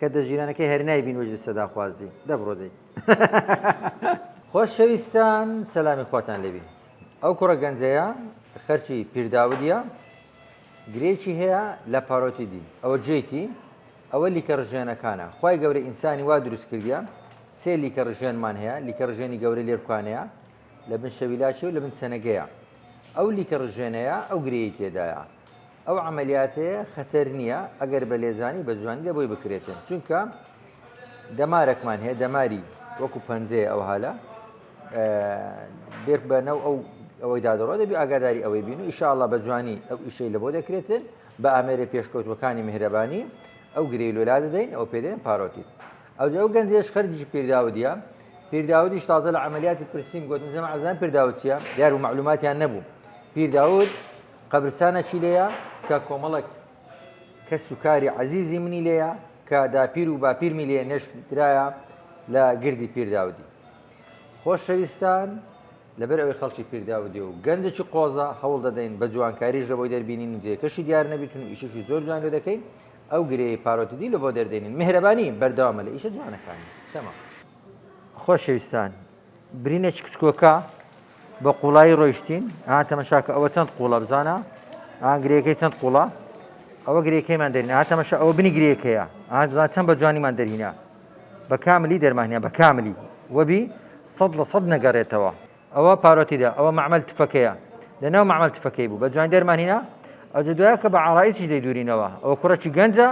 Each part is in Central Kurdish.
کە دە ژیرانەکەی هەر نای بین وجدی سەدا خوازی دە بڕۆ دەی خۆش شەویستان سەلامی خواتان لێبی ئەو کوڕە گەنجەیە خەرچی پیرداودیە گرێکی هەیە لە پارۆتی دی ئەوە جێتی ئەوە لیکە ڕژێنەکانە خی گەورە ئینسانی وا دروست کردە سێ لیکە ڕژێنمان هەیە لیکە ڕژێنی گەورە لێرکانەیە لە بن شەویلاچی و لە بن سەنەگەیە ئەو لیکە ڕژێنەیە ئەو گرێی تێدایە ئەو عەمەلیاتەیە خەتەر نییە ئەگەر بە لێزانی بە جوانی لە بۆی بکرێتن چونکە دەمارەکمان هەیە دەماری وەکو پەنجەیە ئەو هالە بێک بەنەو ئەو ئەوەی دادڕۆ دەبی ئاگاداری ئەوەی بین و ئیشاءله بە جوانی ئەو ئیشەی لە بۆ دەکرێتن بە ئامێرە پێشکەوتوەکانی میهرەبانی ئەو گرێ لۆلا دەدەین ئەو پێدەێن پارۆتیت ئەو جەو گەنجێش خەرجی پیرداودە پیرداودیش تازە لە عملیاتی پرسیم گوتم زم عزان پیرداوتیە دیار و معلوماتیان نەبوو پیرداود قەبرسانەکی لێیە کە کۆمەڵێک کەس و کاری عەزیزی منی لێیە کە داپیر و باپیرمی لێ نێشتدرایە لە گردی پیرداودی. خۆشەویستان، لەبەر ئەوەی خەڵکی پیرداودێ و گەنجێکی قۆزە، هەوڵ دەدەین بە جوانکاریش لەبۆی دەربینین و جێکەشی دیار نەبیتن و ئیشێکی زۆر جوان لۆ دەکەین، ئەو گرێی پارۆتیدی لەبۆ دەردێنین. میهرەبانی بەردەوامە لە ئیشە جوانەکانی. تەمام. خۆشەویستان، برینە چکچکۆکە بە قوڵایی ڕۆیشتین ئا تەمەشاکە ئەوە چەند قوڵە بزانە ئا گرێەکەی چەند قوڵە ئەوە گرێەکەیمان دەرین ئا تەمەشە ئەوە بنی گرێەکەیە ئا بزان چەند بە جوانیمان دەرهینا بە کاملی دەرمانیا بە کاملی وەبی سەد لە سەد نەگەڕێتەوە ئەوە پارۆتیدا ئەوە معمل تفەکەیە لە ناو معمل تفەکەی بوو بە جوان دەرمانینا ئەجە دوایە کە بە عڕایسیش دەیدورینەوە ئەو کوڕەکی گەنجە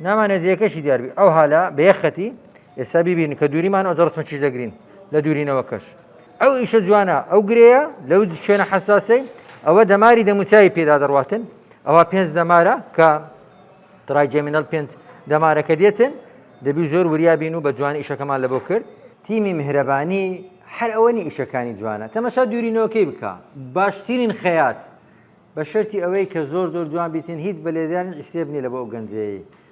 نامانە جێەکەشی دیاربی ئەو هالا بێخەتی ئێستا بیبینن کە دووریمان ئەوجە ڕسمە چیش دەگرین لە دوورینەوەکەش ئەو ئیشە جوانە ئەو گرەیە لەو شوێنە حساسەی ئەوە دەماری دەموچوی پێدا دەڕاتن ئەوە پێنج دەمارە کە تراجێمینەل پێنج دەمارەکە دێتن دەبی زۆر وریابین و بە جوان ئیشەکەمان لەبۆ کرد تیمی میهرەبانی هەر ئەوەنی ئیشەکانی جوانە تەمەشا دوورینەوەکەی بکە باشترین خەیات بە شەرتی ئەوەی کە زۆر زۆر جوان بیتن هیچ بە لێدان ئیسێبنی لە بۆ ئەو گەنجەیە